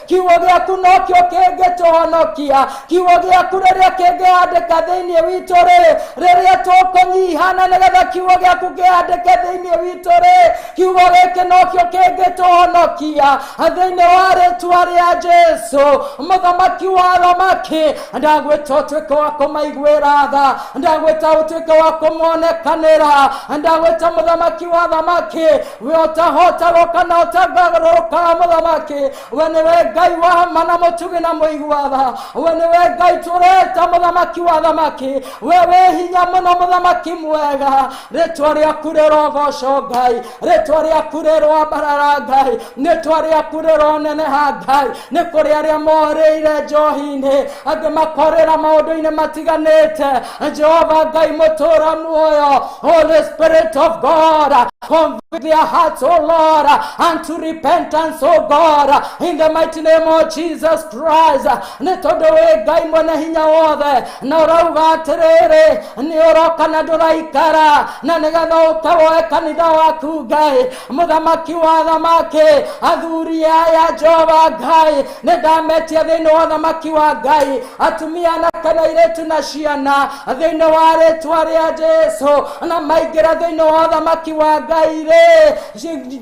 kiugo gĩaku nokĩo kĩngĩtũhonokia kiugo gĩaku rĩrĩa kĩngĩandĩka thĩinĩ witũ rĩ rĩrĩa tũkũnyihana nĩgetha kiugo gĩaku kĩandĩke thĩinĩ witũ rĩ kiugo gĩkĩ nokĩo kĩngĩtũhonokia thĩinĩ wa rĩtwa rĩa jesu mũthamaki wa thamaki ndagwĩta ũtuĩke wa kũmaiguĩra tha ndagwĩta ũtuĩke wa kũmonekanĩra ndagwĩta mũthamaki wa thamaki ũtahotagũka na ũtangagarũrũka mũthamaki we nĩwe ngai wa ma na mũtugi na mũiguatha we nĩwe ngai tũreta mũthamaki wa thamaki we wĩ hinya mũno mũthamaki mwega rĩtwa rĩaku rĩrogoco ngai rĩtwa rĩaku rĩrwambarara ngai rĩtwa rĩaku rĩroneneha ngai nĩ kũrĩ arĩa morĩire njohi-inĩ angĩ makorĩra maũndũ-inĩ matiganĩte jehova ngai mũtũra muoyo holy spirit of god Convert their hearts, oh Lord, unto repentance, oh God, in the mighty name of Jesus Christ. Nĩ tondũ wĩ Ngai mwene hinya wothe, na ũrauga atĩrĩrĩ, nĩ ũroka na ndũraikara, na nĩgetha ũtawoe kanitha waku Ngai, mũthamaki wa thamaki, athuri aya Jehova Ngai, nä ndametia thä inä wa ũthamaki wa ngai atumia na kana irĩtu na ciana thä inä wa rĩtwa rĩa jesu na maingä ra thä inä wa ũthamaki wa ngai rä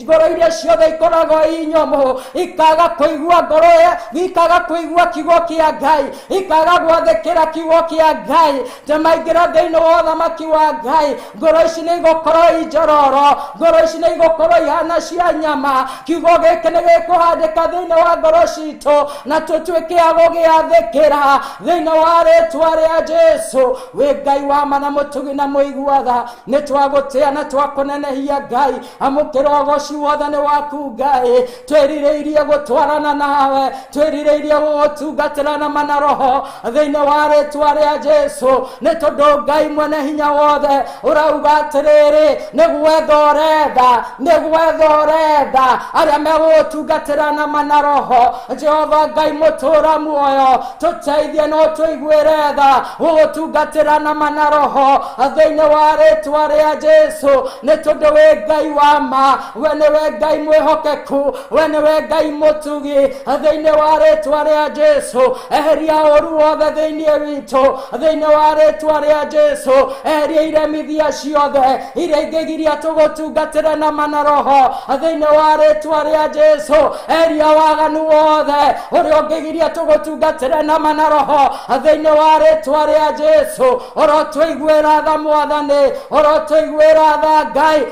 ngoro iria ciothe ikoragwo i nyomũ ikaga kå igua ngoro ĩyo, ikaga kå igua kiugo kä a ngai ikaga gwathä kä ra kiugo kä a ngai ndamaingĩra thĩinĩ wa ũthamaki wa ngai ngoro ici nĩ igũkorwo injororo ngoro ici nĩ igũkorwo ihana cia nyama kiugo gĩkĩ nĩ gĩkũhandĩka thĩinĩ wa ngoro citũ na tũtuĩke a gũgĩathĩkĩra thĩinĩ wa rĩtwa rĩa jesu wĩ ngai wa mana mũtugi na mũiguatha nĩ twagũtĩa na twakũnenehia ngai amũkĩra ũgoci wothe nĩ waku ngai twĩrirĩirie gũtwarana nawe twĩrirĩirie gũgũtungatĩra na mana roho thĩinĩ wa rĩtwa rĩa jesu nĩ tondũ ngai mwene hinya wothe ũrauga atĩrĩrĩ nĩ gwetha ũretha nĩ gwetha ũretha arĩa megũgũtungatĩra na mana roho jehova ngai mũtũra muoyo tũteithie no tũiguĩre tha gũgũtungatĩra na mana roho thĩinĩ wa rĩtwa rĩa jesu nĩ tondũ wĩ ngai wa ma we nĩwe ngai mwĩhokeku we nĩwe ngai mũtugi thĩinĩ wa rĩtwa rĩa jesu eheria ũru wothe thĩinĩ witũ thĩinĩ wa rĩtwa rĩa jesu eheria iremithia ciothe iria ingĩgiria tũgũtungatĩre na mana roho thĩinĩ wa rĩtwa rĩa jesu eheria waganu wothe ũrĩa ũngĩgiria tũgũtungatĩre na mana roho thĩinĩ wa rĩtwa rĩa jesu ũrotũiguĩra tha mwathani ũrotũiguĩra tha ngai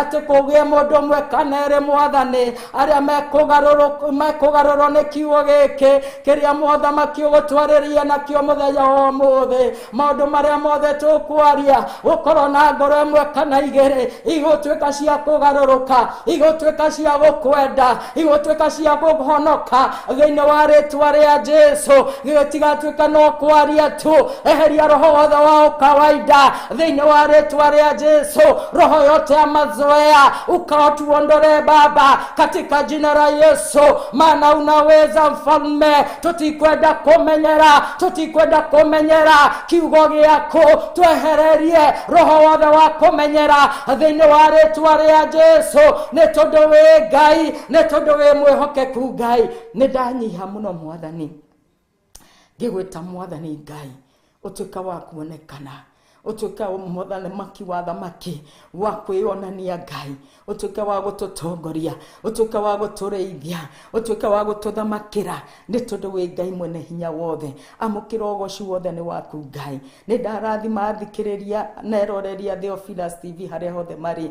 atĩ kũgĩe mũndũ ũmwe kana erĩ mwathani arĩa mekũgarũrũ- mekũgarũrwo nĩ kiugo gĩkĩ kĩrĩa mothamaki ũgũtwarĩria nakĩo mũthenya wa ũmũthĩ maũndũ marĩa mothe tũkwaria gũkorwo na ngoro ĩmwe kana igĩrĩ igũtuĩka cia kũgarũrũka igũtuĩka cia gũkwenda igũtuĩka cia kũhonoka thĩinĩ wa rĩtwa rĩa jesu gĩtigatuĩka no kwaria tu eheria roho wothe wa ũkawaida thĩinĩ wa rĩtwa rĩa jesu roho yote ya mazoea ukawatuondole baba katika jina la yesu maana unaweza mfalme tũtikwenda kũmenyera tũtikwenda kũmenyera kiugo gĩaku twehererie roho wothe wa kũmenyera thĩinĩ wa rĩtwa rĩa jesu nĩ tondũ wĩ ngai nĩ tondũ wĩ mwĩhokeku ngai nĩ ndanyiha mũno mwathani ngĩgwĩta mwathani ngai ũtuĩka wa kuonekana ũtuĩke mũthamaki wa thamaki wa kwĩyonania ngai ũtuĩke wa gũtũtongoria ũtuĩke wa gũtũrĩithia ũtuĩke wa gũtũthamakĩra nĩ tondũ wĩ ngai mwene hinya wothe amũkĩra ũgoci wothe nĩ waku ngai nĩ ndarathima athikĩrĩria neroreria theofilas tv harĩa hothe marĩ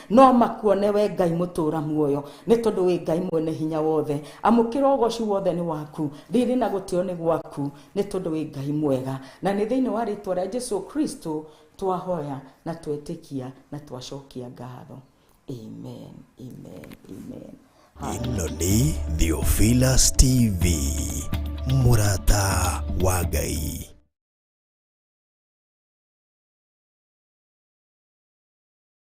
No makuone we Ngai mũtũũra muoyo, nĩ tondũ wĩ Ngai mwene hinya wothe. Amũkĩra ũgoocu wothe nĩ waku, riri na gũtĩo nĩ gwaku, nĩ tondũ wĩ Ngai mwega. Na nĩ thĩinĩ wa rĩĩtwa rĩa Jesũ Kristo twahoya na twetĩkia na twacokia ngatho. Amen, amen, amen. ĩno nĩ theophilus tv mũrata wa ngai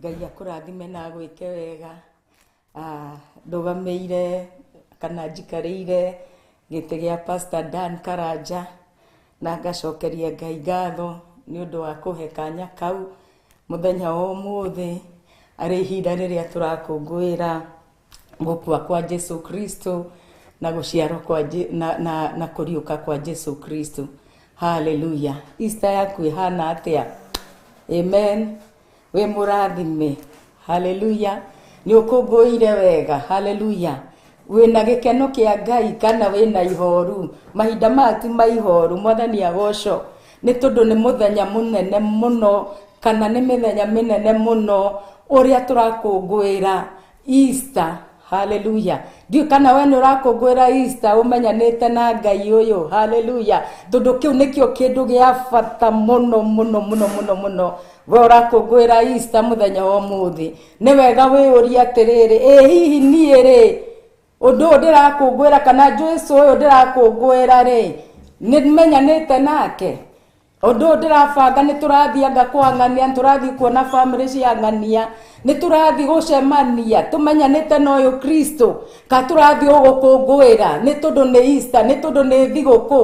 Ngai akũrathime na agwĩke wega. Ah, ndũgamĩire kana njikarĩire gĩtĩ gĩa Pastor Dan Karanja na ngacokeria Ngai ngatho nĩ ũndũ wa kũhe kanya kau mũthenya wa ũmũthĩ arĩ ihinda rĩrĩa tũrakũngũĩra gũkua kwa jesu kristo na gũciarwo kwa Je- na, na, na kũriũka kwa jesu kristo haleluya ista yaku ĩhana atĩa amen wĩ mũrathime haleluya nĩ ũkũngũĩire wega haleluya wĩna gĩkeno kĩa ngai kana wĩna ihoru mahinda maya ti ma ihoru mwathani agoco nĩ tondũ nĩ mũthenya mũnene mũno kana nĩ mĩthenya mĩnene mũno ũrĩa tũrakũngũĩra Easter. Haleluya. Ndiũ kana we nĩ ũrakũngũĩra Easter ũmenyanĩte na Ngai ũyũ. Haleluya. Tondũ kĩu nĩkĩo kĩndũ gĩa bata mũno mũno mũno mũno mũno. We ũrakũngũĩra Easter mũthenya wa ũmũthĩ. Nĩ wega wĩyũrie atĩrĩrĩ, ĩ hihi niĩ rĩ, ũndũ ũyũ ndĩrakũngũĩra kana Jesu ũyũ ndĩrakũngũĩra rĩ, nĩ menyanĩte nake? Ũndũ ũyũ ndĩrabanga nĩ tũrathiĩ anga kwang'ania, nĩ tũrathiĩ kuona bamĩrĩ cia ng'ania, nĩ tũrathiĩ gũcemania tũmenyanĩte na ũyũ Kristo, ka tũrathiĩ o gũkũngũĩra nĩ tondũ nĩ Easter, nĩ tondũ nĩ thigũkũ.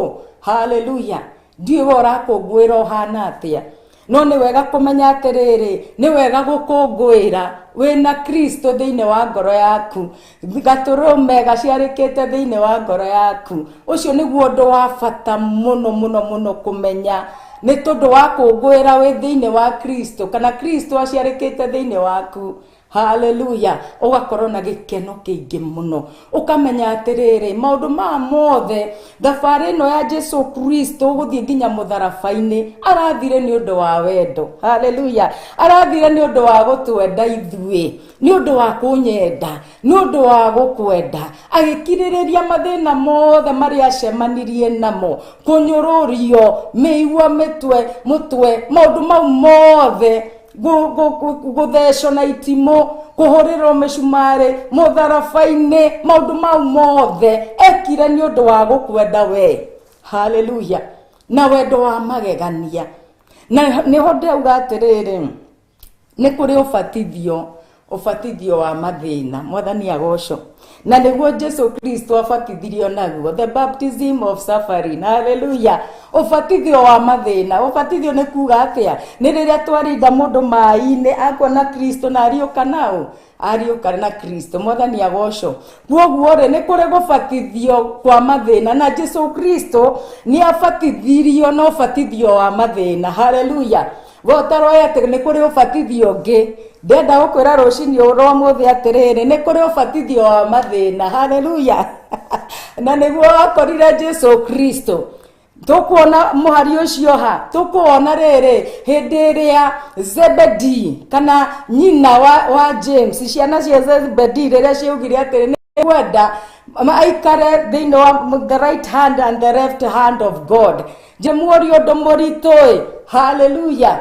Hallelujah. Ndiũĩ we ũrakũngũĩra ũhana atĩa, no nĩ wega kũmenya atĩrĩrĩ, nĩ wega gũkũngũĩra wĩna Kristo thĩinĩ wa ngoro yaku, gatũrũ mega ciarĩkĩte thĩinĩ wa ngoro yaku ũcio nĩguo ũndũ wa bata mũno mũno mũno kũmenya nĩ tũndũ wa kũngũĩra wĩ thĩinĩ wa kristo kana kristo aciarĩkĩte thĩinĩ waku haleluya ũgakorwo na gĩkeno kĩingĩ mũno ũkamenya atĩrĩrĩ maũndũ maya mothe thabarĩ ĩno ya jesu kristo gũthiĩ nginya mũtharaba-inĩ arathire nĩ ũndũ wa wendo haleluya arathire nĩ ũndũ wa gũtwenda ithuĩ nĩ ũndũ wa kũnyenda nĩ ũndũ wa gũkwenda agĩkirĩrĩria mathĩna mothe marĩa acemanirie namo kũnyũrũrio mĩigua mĩtwe mũtwe maũndũ mau mothe gũ- gũ- gũ- gũthecwo na itimũ kũhũrĩrwo mĩcumarĩ mũtharaba-inĩ maũndũ mau mothe ekire nĩ ũndũ wa gũkwenda wee haleluya na wendo wa magegania na nĩho ndauga atĩrĩrĩ Nĩ kũrĩ ũbatithio, ũbatithio wa mathĩna. Mwathani agoco. Na nĩguo Jesu Kristo abatithirio naguo. The baptism of suffering. Hallelujah. Ũbatithio wa mathĩna. Ũbatithio nĩ kuga atĩa? Nĩ rĩrĩa twaringa mũndũ maĩ-inĩ akuona Kristo na ariũka nao. ariũka na kristo mwathani agocwo kwoguo rĩ nĩ kũrĩ gũbatithio kwa mathĩna na jesu kristo nĩ abatithirio na ũbatithio wa mathĩna haleluya we ũtaroĩ atĩ nĩ kũrĩ ũbatithio ũngĩ ndenda gũkwĩra rũcinĩ rwa mũthĩ atĩrĩrĩ nĩ kũrĩ ũbatithio wa mathĩna haleluya na nĩguo wakorire jesu kristo tũkuona mũhari ũcio ha tũkuona rĩrĩ hĩndĩ ĩrĩa zebedi kana nyina wa, wa james ciana cia zebedi rĩrĩa ciaugire atĩrĩ nĩ kwenda aikare thĩinĩ wa the right hand and the left hand of god njĩmuũri ũndũ mũritũ-ĩ haleluya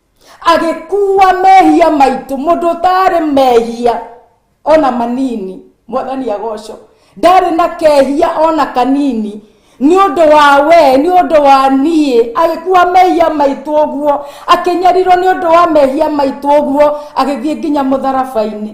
agĩkuua mehia maitũ mũndũ ũtarĩ mehia ona manini mwathani agoco ndarĩ na kehia ona kanini nĩ ũndũ wa we nĩ ũndũ wa niĩ agĩkuua mehia maitũ ũguo akĩnyarirwo nĩ ũndũ wa mehia maitũ ũguo agĩthiĩ nginya mũtharaba-inĩ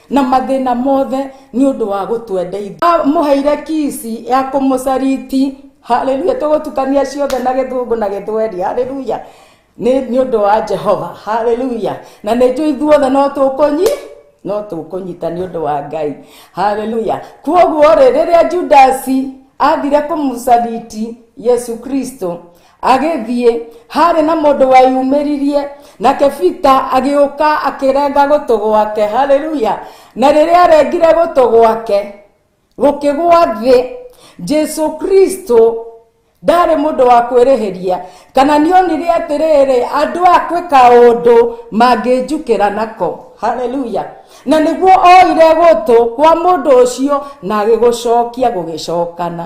na mathĩna mothe nĩ ũndũ wa gũtwendeithia amũheire kisi ya kũmũcariti haleluya tũgũtukania ciothe na gĩthũngũ na gĩthweri haleluya nĩ nĩ ũndũ wa jehova haleluya na nĩ njũ ithuothe no tũkũnyi no tũkũnyita nĩ ũndũ wa ngai haleluya kuoguo rĩ rĩrĩa judasi athire kũmũcariti yesu kristo agĩthiĩ harĩ na mũndũ weyumĩririe nake bita agĩũka akĩrenga gũtũ gwake haleluya na rĩrĩa arengire gũtũ gwake gũkĩgwa thĩ jesu kristo ndarĩ mũndũ wa kwĩrĩhĩria kana nĩonire atĩrĩrĩ andũ a kwĩka ũndũ mangĩnjukĩra nako haleluya na nĩguo oire gũtũ kwa mũndũ ũcio na agĩgũcokia gũgĩcokana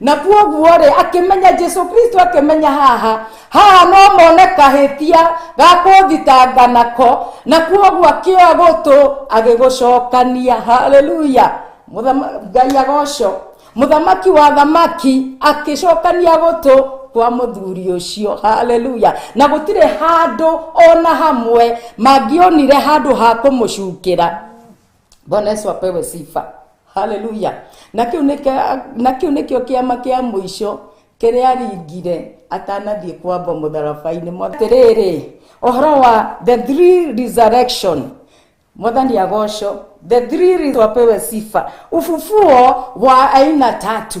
na kwoguo-rĩ akĩmenya jesu kristo akĩmenya haha haha no mone kahĩtia ga kũthitanga nako na kwoguo akĩoya gũtũ agĩgũcokania haleluya Mũthama- ngai agoco mũthamaki wa thamaki akĩcokania gũtũ kwa mũthuri ũcio haleluya na gũtirĩ handũ ona hamwe mangĩonire handũ ha kũmũcukĩra bwana yesu apewe sifa haleluya na kiu nĩkĩa- na kĩu nĩkĩo kĩama kĩa mũico kĩrĩa aringire atanathiĩ kwamba mũtharabainĩ mwatirĩrĩ ũhoro wa the three resurrection mwathani agoco the three reasons wapewe sifa ufufuo wa aina tatu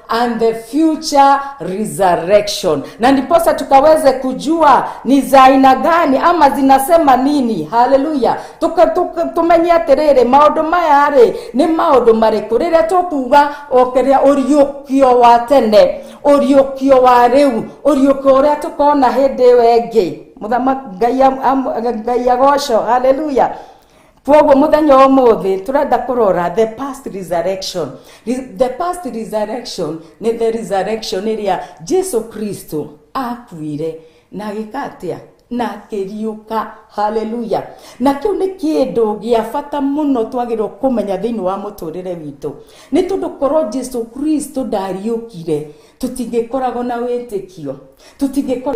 and the future resurrection, na ndiposa tukaweze kujua ni za aina gani ama zinasema nini. Haleluya! Tuka- tuka- tumenye atĩrĩrĩ maũndũ maya rĩ nĩ maũndũ marĩkũ rĩrĩa tũkuga okeria ũriũkio wa tene ũriũkio wa rĩu ũriũkio ũrĩa tũkona hĩndĩ ĩyo ĩngĩ mũthama ngai am- am- ngai agoco haleluya kwoguo muthenya wa umuthi turenda kurora the past resurrection Re- the past resurrection ni the resurrection iria jesu kristo akuire na agika atia na akĩriũka haleluya na kĩu nĩ kĩndũ gĩa bata mũno twagĩrĩirwo kũmenya thĩinĩ wa mũtũrĩre witũ nĩ tondũ korwo jesu kristo ndariũkire tũtingĩkoragwo na wĩtĩkio tũtingĩkorwo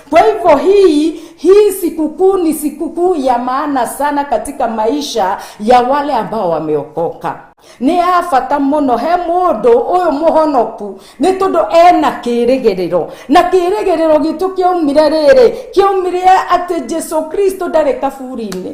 Kwa hivyo hii hii sikukuu ni sikukuu ya maana sana katika maisha ya wale ambao wameokoka. Nĩ ya bata mũno he mũndũ ũyũ mũhonoku nĩ tondũ ena kĩĩrĩgĩrĩro na kĩĩrĩgĩrĩro gitũ kĩaumire rĩrĩ kĩaumire atĩ Jesu Kristo ndarĩ kaburi-inĩ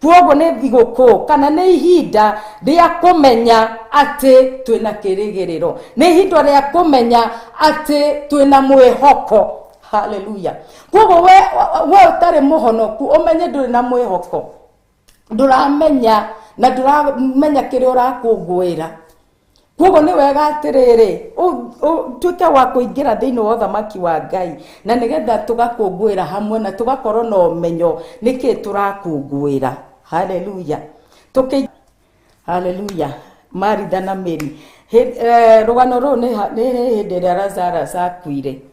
Kwoguo nĩ thigũkũ kana nĩ ihinda rĩa kũmenya atĩ twĩna kĩrĩgĩrĩro, nĩ ihinda rĩa kũmenya atĩ twĩna mwĩhoko. Haleluya! Kwoguo we we ũtarĩ mũhonoku ũmenye ndũrĩ na mwĩhoko, ndũramenya na ndũramenya kĩrĩa ũrakũngũĩra. koguo nĩ wega atĩrĩrĩ ũtuĩke wa kũingĩra thĩinĩ wa ũthamaki wa ngai na nĩgetha tũgakũngũĩra hamwe na tũgakorwo na ũmenyo nĩkĩ tũrakũngũĩra haleluya Tũkĩ... haleluya maritha na mĩri Hĩ- eh, rũgano rũrũ nĩ ha- nĩ hĩndĩ ĩrĩa lazarus akuire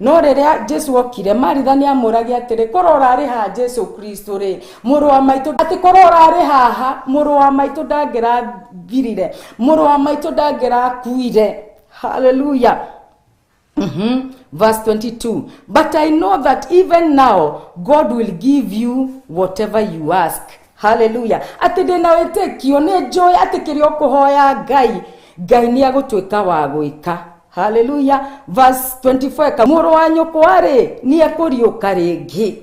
No rĩrĩa Jesu okire, Maritha nĩamũũragia atĩrĩ, korwo ũrarĩ haha Jesu Kristo-rĩ, mũrũ wa maitũ, atĩ korwo ũrarĩ haha, mũrũ wa maitũ ndangĩrathirire, mũrũ wa maitũ ndangĩrakuire. Haleluya. Mhm. Verse 22 But I know that even now God will give you whatever you ask. haleluya atĩ ndĩ na wĩtĩkio nĩ njũĩ atĩ kĩrĩa ũkũhoya ngai ngai nĩ agũtuĩka wa gwĩka haleluya verse 24 eka, mũrũ wa nyũkwa-rĩ nĩ ekũriũka rĩngĩ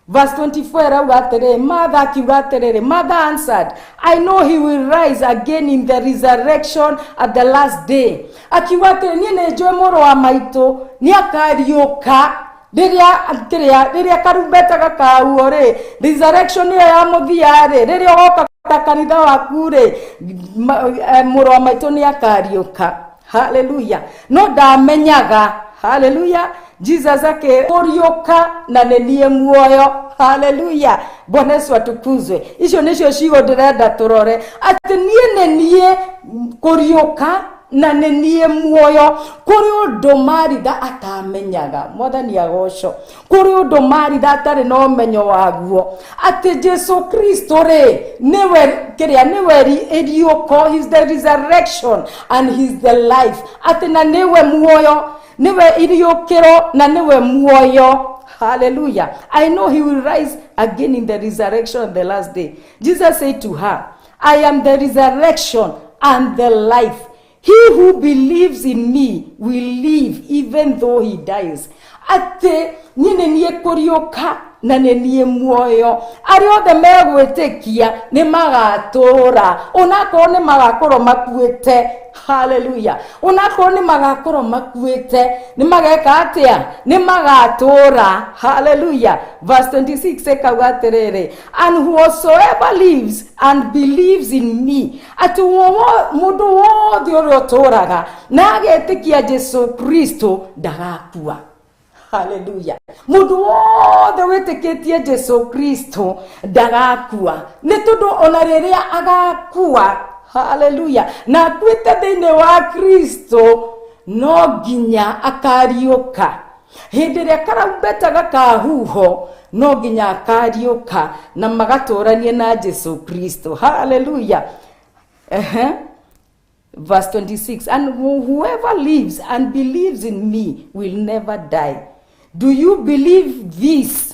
Verse 24 arauga atĩrĩ matha akiuga atĩrĩrĩ mother answered i know he will rise again in the resurrection at the last day akiuga atĩrĩ niĩ nĩ njũĩ mũrũ wa maitũ nĩ akariũka rĩrĩa kĩrĩa rĩrĩa karumbeta gakahuo rĩ resurrection ĩyo ya mũthia rĩ rĩrĩa ũgoka ta kanitha waku rĩ ma- eh, mũrũ wa maitũ nĩ akariũka haleluya no ndamenyaga haleluya jesus akĩũriũka na nĩ niĩ muoyo haleluya bwana yesu atukuzwe icio nĩcio cigo ndĩrenda tũrore atĩ niĩ nĩ niĩ kũriũka na nĩ niĩ muoyo kũrĩ ũndũ maritha atamenyaga mwathani agoco kũrĩ ũndũ maritha atarĩ na ũmenyo waguo atĩ jesu kristo rĩ nĩwe kĩrĩa nĩwe ri- iriũko his the resurrection and his the life atĩ na nĩwe muoyo nĩwe iriũkĩro na nĩwe muoyo haleluya i know he will rise again in the resurrection on the last day jesus said to her I am the resurrection and the life. He who believes in me will live even though he dies. Atĩ niĩ nĩ niĩ kũriũka na nĩ niĩ muoyo arĩa othe megwĩtĩkia nĩ magatũũra onakorwo nĩ magakorwo makuĩte haleluya onakorwo nĩ magakorwo makuĩte nĩ mageka atĩa nĩ magatũũra haleluya verse 26 ĩkauga atĩrĩrĩ and whosoever lives and believes in me atĩ wo- wo- mũndũ wothe ũrĩa ũtũũraga na agetĩkia jesu kristo ndagakua haleluya mũndũ wothe wĩtĩkĩtie jesu kristo ndagakua nĩ tondũ ona rĩrĩa agakua haleluya na akuĩte thĩinĩ wa kristo no nginya akariũka Hĩndĩ ĩrĩa karumbeta gakaahuuhwo, no nginya akaariũka na magatũũranie na Jesu Kristo. Haleluya! Ehe. Verse 26 And whoever lives and believes in me will never die. Do you believe this?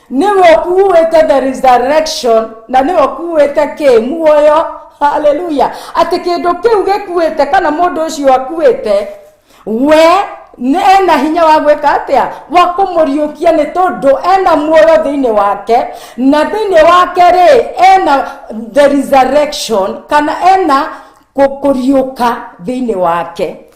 nĩwe ũkuuĩte the resurrection na nĩwe ũkuuĩte kĩ muoyo haleluya atĩ kĩndũ kĩu gĩkuĩte kana mũndũ ũcio akuĩte we nĩ ena hinya wa gwĩka atĩa wa kũmũriũkia nĩ tondũ ena muoyo thĩinĩ wake na thĩinĩ wake rĩ ena the resurrection kana ena kũ- kũriũka thĩinĩ wake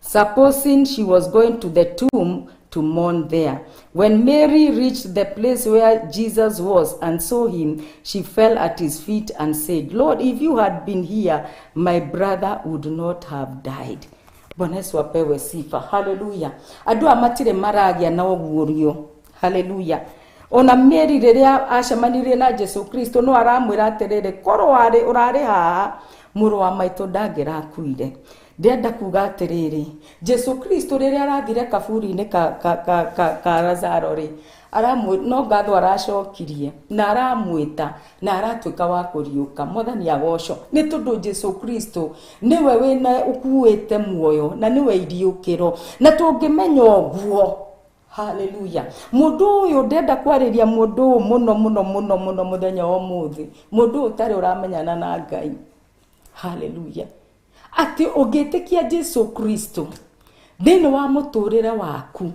Supposing she was going to the tomb to mourn there. When Mary reached the place where Jesus was and saw him, she fell at his feet and said, Lord, if you had been here, my brother would not have died. Bwana Yesu apewe sifa. Haleluya. Andũ aya matirĩ maragĩa na ũguũrio. Haleluya. Ona Mary rĩrĩa acemanirie na Jesu Kristo no aramwĩra atĩrĩrĩ, korwo warĩ ũrarĩ haha mũrũ wa maitũ ndangĩrakuire. Ndĩrenda kuuga atĩrĩrĩ, Jesu Kristo rĩrĩa arathire kaburi-inĩ ka, ka, ka, ka, ka Lazaro rĩ, aramwĩ- no ngatho aracokirie na aramwĩta na aratuĩka wa kũriũka. Mwathani agocwo. Nĩ tondũ Jesu Kristo nĩwe wĩna ũkuĩte muoyo na nĩwe iriũkĩro. Na tũngĩmenya ũguo, haleluya mũndũ ũyũ ndenda kwarĩria mũndũ ũyũ mũno mũno mũno mũno mũthenya wa ũmũthĩ mũndũ ũyũ ũtarĩ ũramenyana na ngai haleluya atĩ ũngĩtĩkia jesu kristo thĩinĩ wa mũtũrĩre waku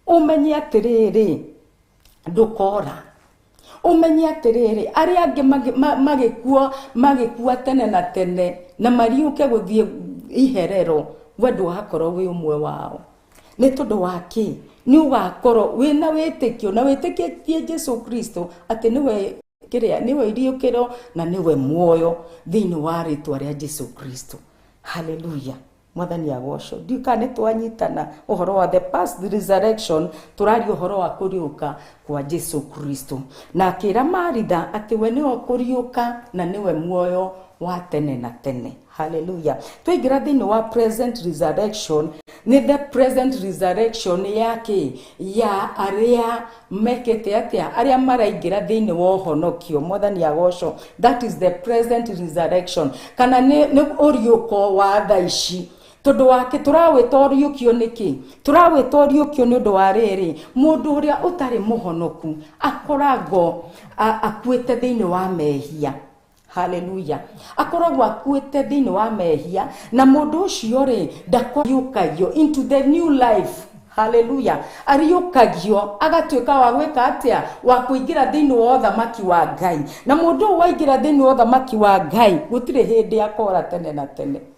ũmenye atĩrĩrĩ ndũkora ũmenye atĩrĩrĩ arĩa angĩ magĩ- ma- magĩkuo magĩkua tene na tene na mariũke gũthiĩ iherero we ndũgakorwo wĩ ũmwe wao nĩ tondũ wa kĩ nĩ ũgakorwo wĩna wĩtĩkio na wĩtĩkĩtie jesu kristo atĩ nĩwe kĩrĩa nĩwe iriũkĩro na nĩwe muoyo thĩinĩ wa rĩtwa rĩa jesu kristo haleluya mwathani agocwo ndiũ kana nĩ twanyitana ũhoro wa the past resurrection tũraria ũhoro wa kũriũka kwa jesu kristo na akĩra maritha atĩ we nĩwe kũriũka na nĩwe muoyo wa tene na tene Hallelujah. Twaingĩra thĩinĩ wa present resurrection nĩ the present resurrection ya kĩ ya arĩa mekĩte atĩa arĩa maraingĩra thĩinĩ wa ũhonokio mwathani agocwo that is the present resurrection kana nĩ nĩ ũriũko wa tha ici tondå wakä tå rawäta å riåkio nä kä tå rawäta å riåkio nä å ndå wa rä rä må ndå å rä a å tarä må honoku akoragwo a- akuä te thä inä wa mehia haleluya akoragwo akuĩte thĩinĩ wa mehia na mũndũ ũcio rĩ ndakariũkagio into the new life haleluya ariũkagio agatuĩka wa gwĩka atĩa wa kũingĩra thĩinĩ wa ũthamaki wa ngai na mũndũ ũyũ waingĩra thĩinĩ wa ũthamaki wa ngai gũtirĩ hĩndĩ akora tene na tene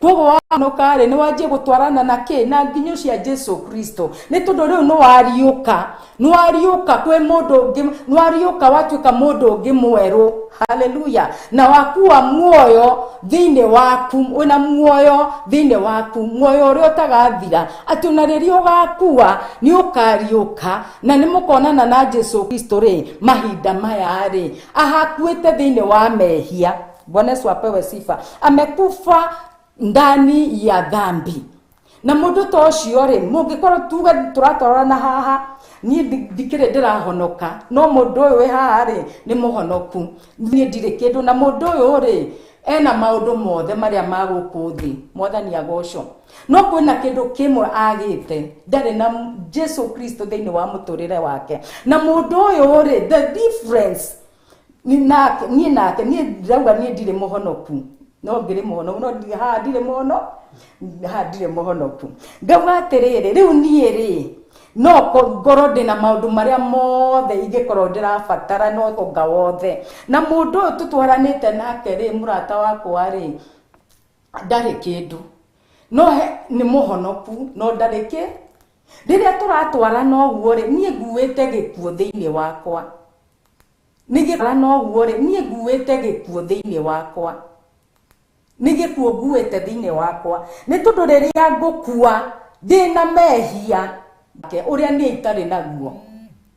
koguo wainũka rĩ nĩ wanjie gũtwarana na kĩ na nginyo cia jesu kristo nĩ tondũ rĩu nĩ wariũka nĩ wariũka kwĩ mũndũ ũngĩ nĩ wariũka watuĩka mũndũ ũngĩ mwerũ haleluya na wakuwa muoyo thĩinĩ waku wĩna muoyo thĩinĩ waku muoyo ũrĩa ũtagathira atĩ ona rĩrĩa ũgakuwa nĩ ũkariũka na nĩ mũkonana na jesu kristo rĩ mahinda maya rĩ ahakuĩte thĩinĩ wa mehia Bwana Yesu apewe sifa. Amekufa ndani ya dhambi na mundu ta ucio ri mungikorwo tuge turatorana haha nie ndikire ndirahonoka no mundu uyu wi haha ri ni muhonoku nie ndire kindu na mundu uyu ri ena maundu mothe maria ma guku thi mwathani agocwo no kwina kindu kimwe agite ndari na jesu kristo thiini wa muturire wake na mundu uyu ri the difference Ni- nake niĩ nake niĩ ndirauga niĩ ndirĩ mũhonoku no ngĩrĩ mũhonoku no ndi- haha ndirĩ mũhono haha ndirĩ mũhonoku ngauga atĩrĩrĩ rĩu niĩ rĩ no ko- ngorwo ndĩ na maũndũ marĩa mothe ingĩkorwo ndĩrabatara no ũtonga wothe na mũndũ ũyũ tũtwaranĩte nake rĩ mũrata wakwa rĩ ndarĩ kĩndũ no he- nĩ mũhonoku no ndarĩ kĩ Rĩrĩa tũratwarana ũguo-rĩ, niĩ nguĩte gĩkuũ thĩinĩ wakwa. Nĩ gĩkuũ ũguo-rĩ, niĩ nguĩte gĩkuũ thĩinĩ wakwa. Nĩ gĩkuũ nguĩte thĩinĩ wakwa. Nĩ tondũ rĩrĩa ngũkua ndĩ na mehia, ũrĩa niĩ itarĩ naguo.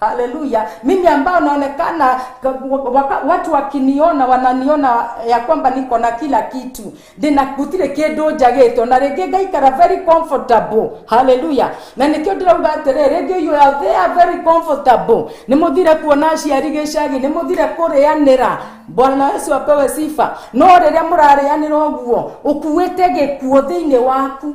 haleluya mimi ambao naonekana waka, watu wakiniona wananiona ya kwamba niko na kila kitu ndina gutire kindu njagitwo na ringi ngaikara very comfortable haleluya na nikio ndirauga atiriri ringi you are there very comfortable ni muthire kuona aciari gicagi ni muthire kurianira bwana yesu apewe sifa no riria murarianira uguo ukuite gikuo thiini waku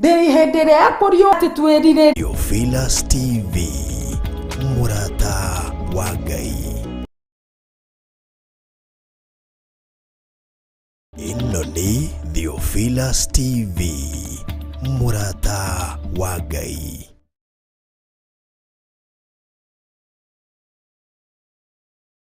ndĩrĩ hĩndĩ ĩrĩa ya kũriũa atĩ twĩrirĩ Theophilus TV mũrata wa Ngai ĩno nĩ Theophilus TV mũrata wa Ngai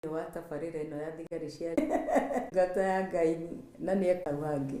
thĩinĩ wa tabarĩra ĩno ya thigari cia ndungata ya Ngai na nĩ ekaga ũguo angĩ.